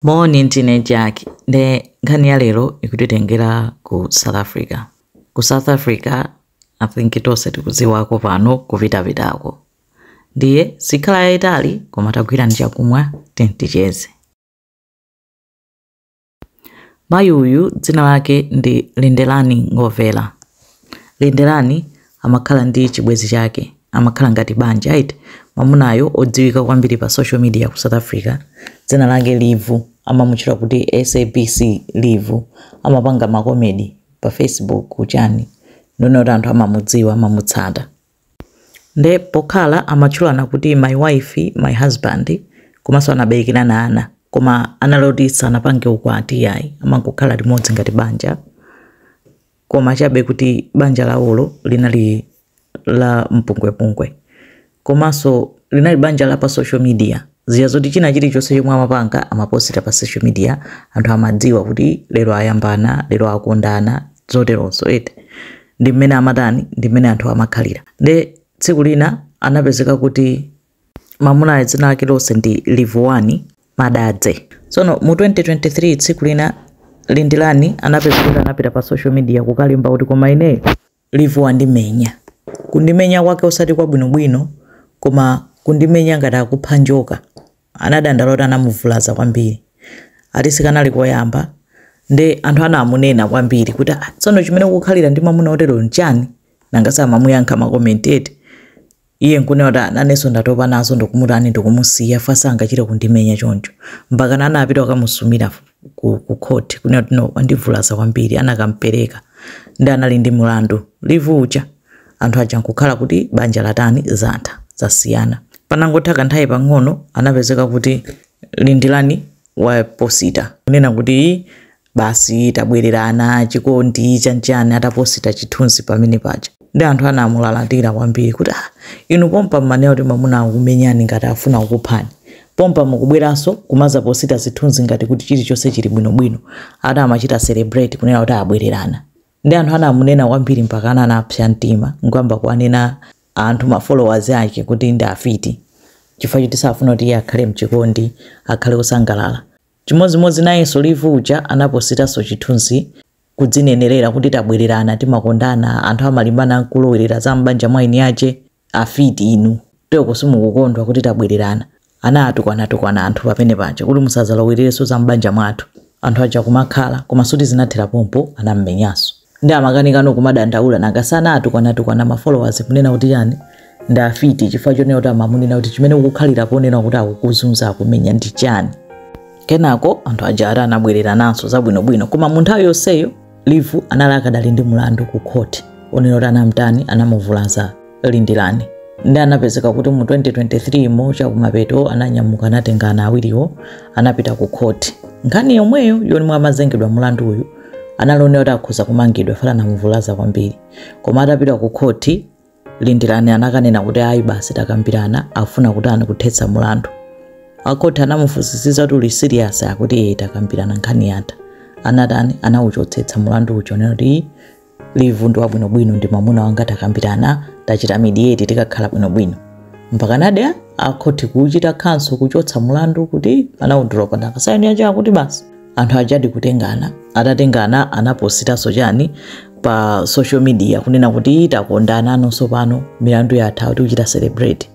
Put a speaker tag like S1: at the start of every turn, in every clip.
S1: Moni ndine Jack nde nkhani ya lero ikutitengera ku South Africa. Ku South Africa I think tonse tikudziwako pano kupitapitako. Ndiye sikhala yayitali koma tagwirani chakumwa tinticheze. Mayi uyu dzina lake ndi Lindelani Nengovhela. Lindelani amakhala ndi chibwenzi chake amakhala ngati banja eti mamunayo odziwika kwambiri pa social media ku south africa dzina lake livu amamutchula kuti sabc livu amapanga makomedi pa facebook kuchani ndiye kuti anthu amamudziwa amamutsata nde pokhala amatchulana kuti my wife my husband komanso anaberekerana ana koma analoti sanapange ukwati yayi amangokhala limodzi ngati banja koma chabe kuti banja lawolo linali la mpungwepungwe komanso linali banja la pa social media zija zoti china chilichonse chomwe amapanga amaposita pa social media anthu amadziwa kuti lero ayambana lero akondana zoterozo eti ndi mmene amatani ndi mmene anthu amakhalira nde tsiku lina anapezeka kuti Mamunayo dzina lake lonse ndi Livhuwani Madadzhe. Tsono mu 2023 tsiku lina Lindelani anapezekeka anapita pa social media kukalemba kuti koma ineyo Livu wandimenya. Kundimenya kwake osati kwabwinobwino koma kundimenya ngati akupha njoka. Anadandaula kuti anamuvulaza kwambiri. Ati sikanali koyamba nde anthu anamunena kwambiri kuti ah, tsono chimene ukukhalira ndi mamuna otereyo nchani? Nanga samamuyankha mmakomenti eti? Iye nkunena kuti, ah, nanenso ndatopa nazo ndikumutani ndikumusiya chifukwa sangachite kundimenya choncho. Mpakana anapita kukamusumira ku, ku court kunena kuti no wandivulaza kwambiri anakampereka ndi anali ndi mulandu Livu uja anthu aja nkukhala kuti banja latani zatha zasiyana. Panangotha kanthawi pang'ono anapezeka kuti Lindelani waposita kunena kuti basi tabwererana chikondi chatani ataposita chithunzi pamene paja nde anthu anamulalatira kwambiri kuti ah, inu pompa mmanena kuti mamuna akumenyani ngati afuna kukuphani pompa mukubweranso kumazaposita zithunzi ngati kuti chilichonse chili bwinobwino ati amachita celebrate kunena kuti abwererana nde anthu anamunena kwambiri mpakana anapsa mtima nkuyamba kuwanena anthu ma followers ake kuti ndi afiti chifukwa choti sakufuna kuti iye akhale mchikondi akhale osangalala Chimodzimodzi nayenso Livu uja anapositanso chithunzi kudzinenelera kuti tabwelerana timakondana anthu amalimbana nkulowelera za m'banja mwa eni ache afiti inu nde nkona simukukondwa kuti tabwelerana anaatukwana-tukwana anthu pamene paja kuti musazalowelerenso za m'banja mwathu anthu aja kumakhala koma sikuti zinathera pompo anam'menyanso. Nde amakanikano kumadandaula nanga si anatukwana tukwana ma followers kunena kuti ndi afiti chifukwa chonena kuti amamunena kuti chimene ukukhalira ponena kuti akukuzunza akumenya ndi chani kenako anthu aja ati anabwererananso zabwinobwino koma mu nthawi yonseyo livu anali akadali ndi mulandu ku khoti onena kuti anamtani anamuvulaza lindirani ndi anapezeka kuti mu 2023 mu chakumapeto ananyamuka anatenga ana awiriwo anapita ku khoti nthawi yomweyo yomwe amazengedwa mulandu uyu anaonera kuti akhoza kumangidwa ifa anamuvulaza kwambiri koma atapita ku khoti lindirani anakanena kuti ayi basi takambirana ndafuna kutani kuthetsa mulandu akhoti anamufunsisiza kuti uli serious akuti "Eh, takambirana nkhani yatha anatani anauchotsetsa mulandu uja wonena kuti livu ndi wabwinobwino ndi mwamuna wanga takambirana tachita midiyeti tikakhala bwinobwino mpakanadi akhoti kuchita cancel kuchotsa mulandu kuti anaudula panalibe case yake akuti basi anthu ajadi kutengana atatengana anapositaso chani pa social media kunena kuti takondananso pano milandu yatha ati kuchita celebrate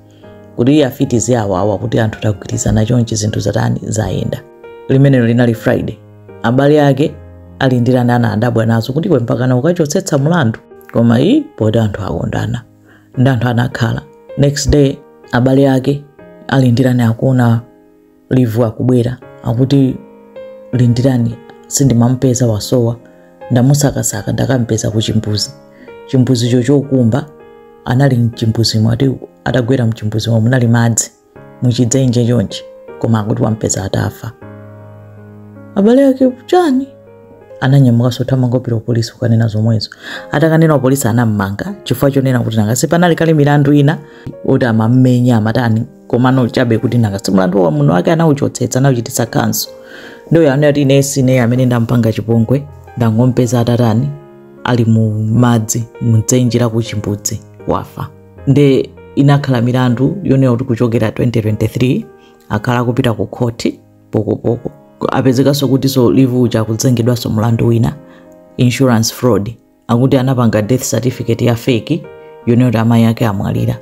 S1: kuti eee afiti ziwawawa kuti anthu tagwirizana chonchi zinthu zatani zayenda limene linali friday abale ake a lindirani anadabwa nazo kuti iwe mpakana kukachotsetsa mlandu koma iyi poti anthu akondana ndi anthu anakhala next day abale ake a lindirani akuona livu akubwera akuti lindirani sindimamupeza wasowa ndamusakasaka ndakampeza ku chimbuzi chimbuzicho chokumba anali mchimbuzimo ati atagwera mchimbuzimo munali madzi muchidzenje chonchi koma akuti wampeza atafa abale ake chani ananyamukanso kuthamanga kupita kupolisi kukanena zomwezo atakanena kupolisi anammanga chifukwa chonena kuti nanga si panali kale milandu ina oti amammenya amatani komano chabe kuti nanga si mlandu wa mamuna wake anauchotsetsa anauchititsa cancel ndo iye anati ine sine amene ndampanga chipongwe ndangompeza atatani ali mu madzi mdzenje la kuchimbudzi atafa nde inakhala milandu yonena kuti kuchokera 2023 akhala akupita ku khoti pokopoko apezekanso kutinso livu uja akuzengedwanso mlandu wina insurance fraud akuti anapanga death certificate ya fake yonena kuti amayi ake amwalira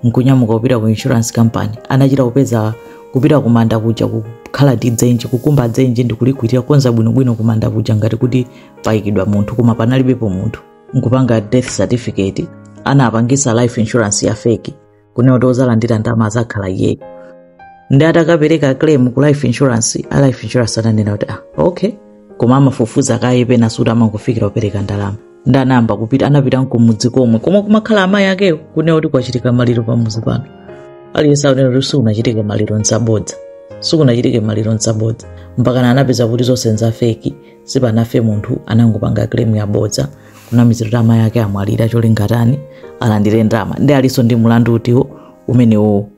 S1: nkunyamuka kupita ku insurance company anachita kupeza kupita kumanda kuja kukalemba dzenje kukumba dzenje ndi kulikwirira kukonza bwinobwino kumanda kuja ngati kuti payikidwa munthu koma panalibepo munthu nkupanga death certificate anapangisa life insurance ya fake kunena kuti ozalandira ndalama azakhala iyeyo ndiye atakapereka claim ku life insurance a life insurance ananena kuti ah okay koma amafufuza kaye pena sikuti amangofikira kupereka ndalama ndiye anayamba kupita anapita kumudzi komwe komwe kumakhala amayi akewo kunena kuti kwachitika maliro pamudzi pano aliyense akunena kuti sikunachitike maliro nzabodza sikunachitike maliro nzabodza mpakana anapeza kuti zonse nzafeki sipanafe munthu anangopanga claim yabodza kunamizira kuti amayi ake amwalira cholinga tani alandire ndalama ndiye alinso ndi mlandu utiwo umenewowo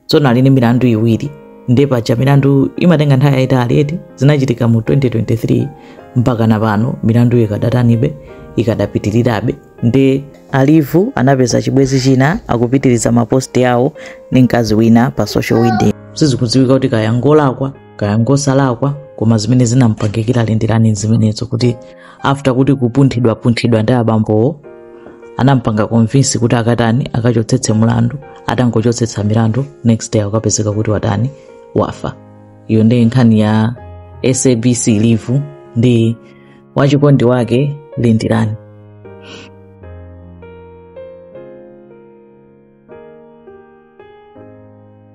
S1: tsono ali ndi milandu iwiri ndiye paja milandu imatenga nthawi yayitali eti zinachitika mu 2023 mpaka na pano milandu ikadatani ikadapitirirabe ndiye a Livu anapeza chibwezi china akupitiriza maposti awo ndi mkazi wina pa social media sizikudziwika kuti kaya ngolakwa kaya ngosalakwa koma zimene zinampangikira lindirani zimenezo kuti after kuti kupunthidwapunthidwa ndi abambowo anampanga convince kuti akatani akachotsetse mlandu atangochotsetsa milandu next day akupezeka kuti watani wafa iyo ndiye nkhani ya sabc livu ndi wachikondi wake lindirani